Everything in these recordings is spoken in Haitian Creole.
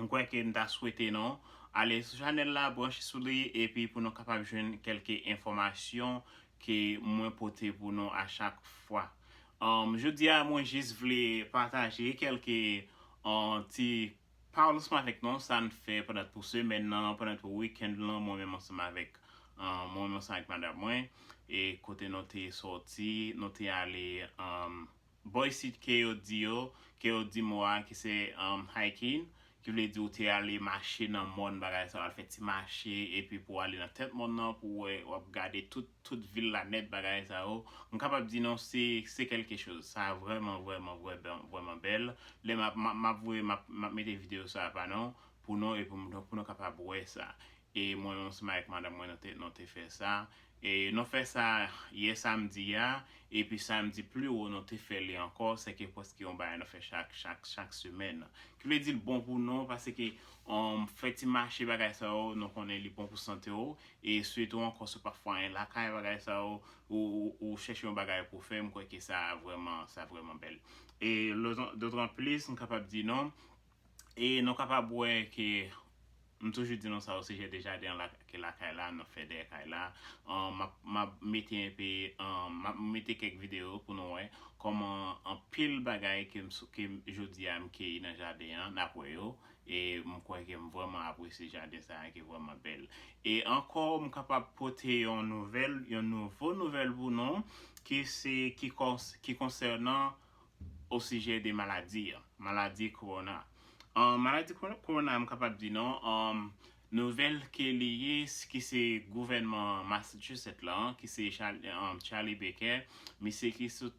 M kwè ke n ta swete nou ale sou chanèl la, branche sou li epi pou nou kapab jwenn kèlke enfòmasyon ke mwen pote pou nou a chak fwa. Jodi a mwen jis vle pataje kèlke ti pawolsman avèk nou sa n fè pètèt pou semèn nan, pètèt pou weekend lan mwen menm ansanm avèk mwen menm ansanm avèk madam mwen e kote nou te sòti, nou te ale. Bò isit ke yo di yo, ke yo di mo a ki se hiking, ki vle di ou te ale mache nan mòn bagay sa, ou al fè ti mache epi pou ale nan tèt mòn nan pou wè, ou ap gade tout, tout vil la nèt bagay sa yo. M kapab di nou se, se kèlke choz. Sa vrèman, vrèman, vrèman, vrèman bèl. Lè m ap, m ap, m ap voye, m ap, m ap mete videyo sa a ba nou, pou nou e pou nou, pou nou kapab wè sa. e mwen menm seman ak madanm mwen nou te fè sa e nou fè sa yè samdi a epi samdi pliwo nou te fè li ankò sèke prèske yon bagay nou fè chak chak chak semèn ki vle dil bon pou nou paske fè ti mache bagay sa yo nou konnen li bon pou santew e sitou ankò si w pa fè anyen lakay bagay sa yo ou chèche yon bagay pou fè m kwè ke sa vrèman sa vrèman bèl e dotan plis m kapab di nou E nou kapab wè ke m toujou di nou sa osijè de jaden an ke lakay la nan fè dèyè kay la. Map map mete enpe map mete kèk videyo pou nou wè kòman anpil bagay ke m ke m jodi a m keyi nan jaden an nap wè yo e m kwè ke m vrèman apresye jaden sa a ki vrèman bèl. E ankò m kapab pote yon nouvèl yon nouvo nouvèl pou nou ki se ki kons ki konsènan osijè de maladi an, maladi kowona. Maladi kowona a m kapab di nou nouvèl ke li ye ki se gouvènman Massachusetts la ki se Charlie Baker misye ki sot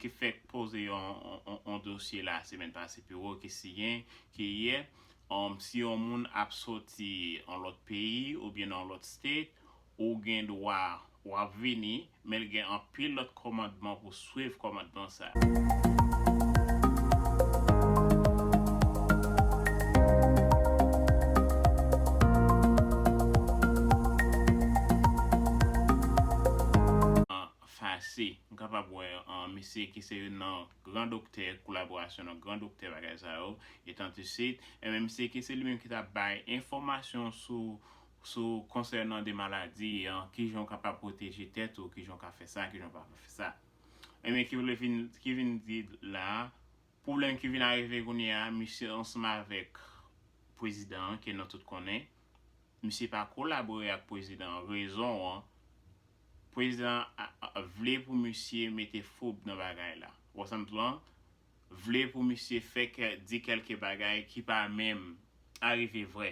ki fèk poze yon dosye la semèn pase pi wo ki siyen ke yè si yon moun ap soti yon lòt peyi oubyen nan yon lòt state Ou gen dwa, w ap vini, men l gen anpil lòt kòmandman pou swiv kòmandman sa. Fase. M kapab wè misye ki se youn nan gran doktè kolaborasyon nan gran doktè bagay sa yo, etant isit, enben misye ki se li menm ki t ap bay enfòmasyon sou Sou konsènan de maladi an, ki jan w kapab pwoteje tèt ou, ki jan w ka fè sa, ki jan w pa ka fè sa. Enben ki vle vin, ki vin di la, pwoblèm ki vin arive kounye a, misye ansanm avèk pwezidan an ke nou tout konnen, misye pa kolabore ak pwezidan an, rezon an, pwezidan an vle pou misye mete fwoub nan bagay la. Wè sa m di w lan? vle pou misye fè kè di kèlke bagay ki pa menm arive vrè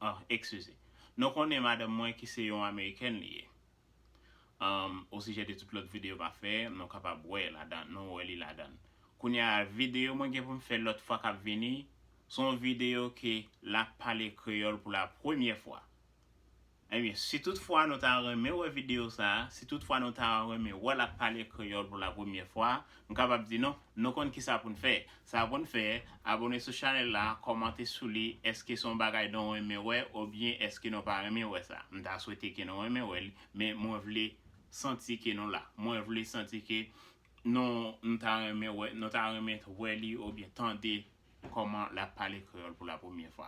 anhh ekskize nou konnen madanm mwen ki se yon amerikèn li ye anhh osijè de tout lòt videyo map fè nou kapab wè ladan nou wè li ladann kounya videyo mwen gen poum fè lòt fwa kap vini son videyo ke lap pale kreyòl pou la premyè fwa. Ebyen, si tout fwa nou ta renmen wè videyo sa, si tout fwa nou ta renmen wè l ap pale kreyòl pou la premyè fwa, m kapab di nou, nou konn kisa pou n fè. Sa pou n fè, abone sou chanèl la, kòmante sou li, èske se yon bagay nou renmen wè obyen èske nou pa renmen wè sa. M ta swete ke nou renmen wè l, men mwen vle santi ke nou la. Mwen vle santi ke nou nou ta renmen wè, nou ta renmen wè li obyen tande kòman l ap pale kreyòl pou la premyè fwa.